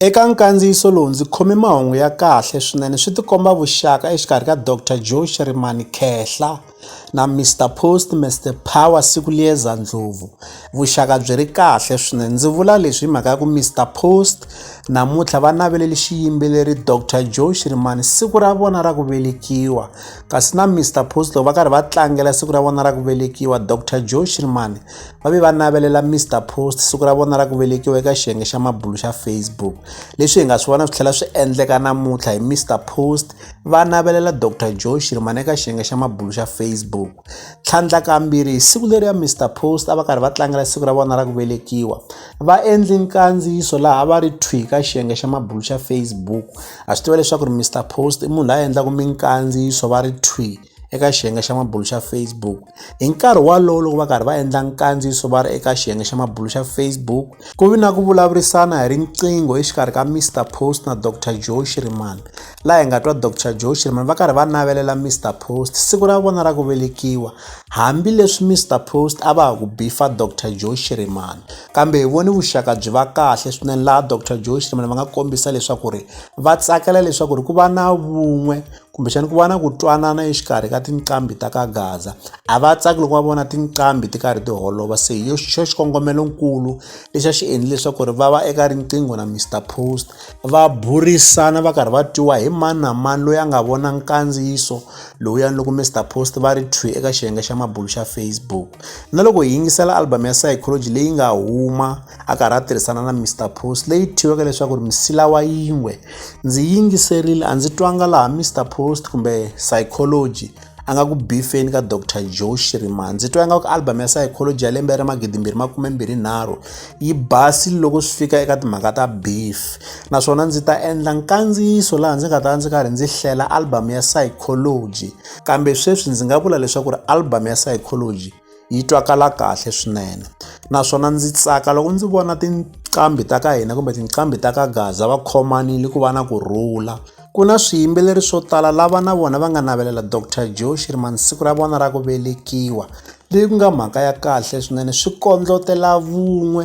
Eka nkandziyiso lowu ndzi khome mahungu ya kahle swinene swi tikomba vuxaka exikarhi ka Dr Joe Shirimani Khehla na Mr Post Mr Power Sikuliyeza Ndlovu. Vuxaka byi ri kahle swinene ndzi vula leswi hi mhaka ya ku Mr Post namuntlha va naveleli xiyimbeleri Dr Joe Shirimani siku ra vona ra ku velekiwa kasi na Mr Post loko va karhi va tlangela siku ra vona ra ku velekiwa Dr Joe Shirimani va ve va navelela mr post siku ra vona ra ku velekiwa eka xiyenge xa mabulu xa facebook leswi hi nga swi vona swi tlhela swi endleka namuntlha hi mr post va navelela dr joe shirmana eka xiyenge xa mabulu xa facebook tlhandlakambirhi hi siku leri ya mr post a va karhi va tlangela siku ra vona ra ku velekiwa va endli nkandziyiso laha va ri thwi ka xiyenge xa mabulu xa facebook a swi tiva leswaku ri mr post i munhu la endlaka minkandziyiso va ri thwi eka xiyenge xa mabulo xa Facebook. Hi nkarhi walowo loko va karhi va endla nkandziyiso va ri eka xiyenge xa mabulo xa Facebook, ku vi na ku vulavurisana hi riqingho exikarhi ka Mister Post na Doctor Joe Shiriman. Laha hi nga twa Doctor Joe Shiriman va karhi va navelela Mister Post siku ra vona ra ku velekiwa, hambileswi Mister Post a va ha ku bifa Doctor Joe Shiriman. Kambe hi vone vuxaka byi va kahle swinene laha Doctor Joe Shiriman va nga kombisa leswaku ri va tsakela leswaku ri ku va na vun'we kumbexana ku va na ku twanana exikarhi ka tinqambi ta ka gaza a va tsaki loko va vona tinqambi ti karhi ti holova se hi xo xikongomelonkulu lexi a xi endli leswaku ri va va eka riqingho na mr post va burisana va karhi va twiwa hi mani na mani loyi a nga vona nkandziyiso lowuyani loko mr post va ri thwi eka xiyenge xa mabulu xa facebook na loko hi yingisela album ya psychology leyi nga huma a karhi a tirhisana na mr post leyi thyiweke leswaku ri misila wa yin'we Ndzi yingiserile a ndzi twanga laha Mister Post kumbe Psychology a nga ku bifeni ka Doctor Joe Shirima ndzi twa ingaku album ya Psychology ya lembe ra magidi mbirhi makume mbirhi nharhu yi basile loko swi fika eka timhaka ta beef naswona ndzi ta endla nkandziyiso laha ndzi nga ta ndzi karhi ndzi hlela album ya Psychology kambe sweswi ndzi nga vula leswaku ri album ya Psychology yi twakala kahle swinene naswona ndzi tsaka loko ndzi vona tinqambi ta ka hina kumbe tinqambi ta ka gaza va khomanile ku va na ku rhula ku na swiyimbeleri swo tala lava na vona va nga navelela dr joe shirman siku ra vona ra ku velekiwa leyi ku nga mhaka ya kahle swinene swi kondlotela vun'we